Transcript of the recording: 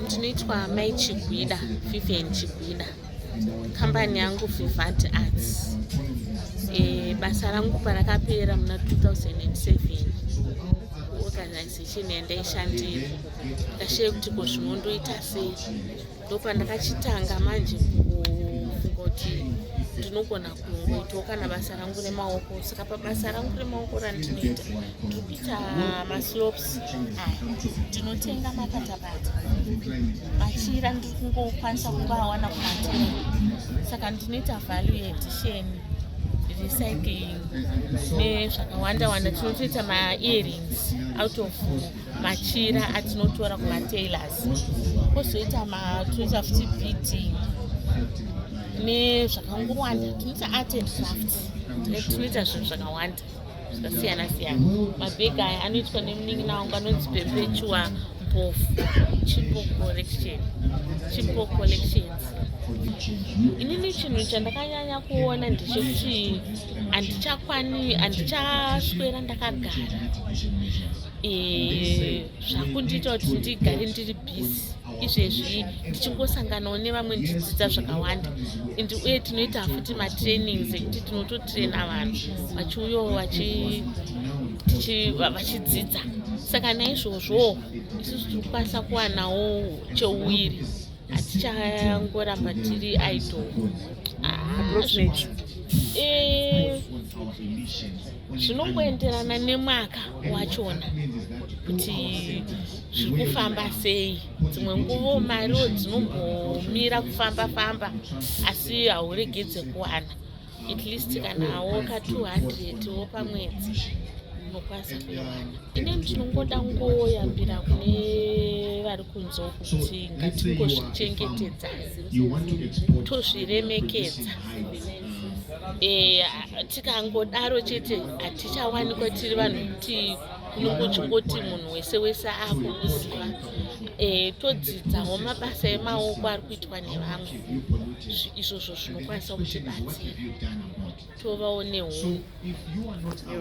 Ndinoitwa mai Chigwida, Vivian Chigwida. Kambani yangu Vivant Arts. E, basa rangu parakapera muna 2007 organization yandaishandira ndikashaye kuti ko zvinondoita sei ndopandakachitanga manje kufunga kuti ndinogona kungoitawo kana basa rangu remaoko saka pabasa rangu remaoko randinoita ndiri kuita maslopes aya ndinotenga makatabata machira ndiri kungokwanisa kungoawana kumatera saka ndinoita value edition recycling nezvakawanda wanda tinotoita maearings out of machira atinotora kumatailors kozoita matoita futi beating nezvakangowanda tinoita art and craft tinoita zvinhu zvakawanda zvakasiyana siyana mabhegi aya anoitwa nemunin'ina wangu anonzi perpetua mpofu chipo collection chipo collections inini chinhu chandakanyanya kuona ndechekuti handichakwani handichaswera ndakagara Eh, zvakundiita kuti ndigare ndiri busy izvezvi ndichingosanganawo nevamwe ndichidzidza zvakawanda and uye tinoita futi matrainings ekuti tinototraina vanhu vachiuyawo vachidzidza saka naizvozvo isusu tiri kukwanisa kuwanawo cheuwiri hatichangoramba tiri idol ah, eh, zvinongoenderana nemwaka wachona kuti zviri kufamba sei dzimwe nguvo mariwo dzinombomira kufamba famba asi hauregedze kuwana at least kana woka 200 wo pamwedzi unokwanisa kuiwana ine ndinongoda ngoyambira kune vari kunzwa kuti ngatingozvichengetedzai tozviremekedza Eh, tikangodaro chete hatichawanikwa tiri vanhu kuti kunongoti munhu wese wese akukuziva eh, todzidzawo mabasa emaoko ari kuitwa nevamwe izvozvo zvinokwanisa kutibatsira tovawo nehu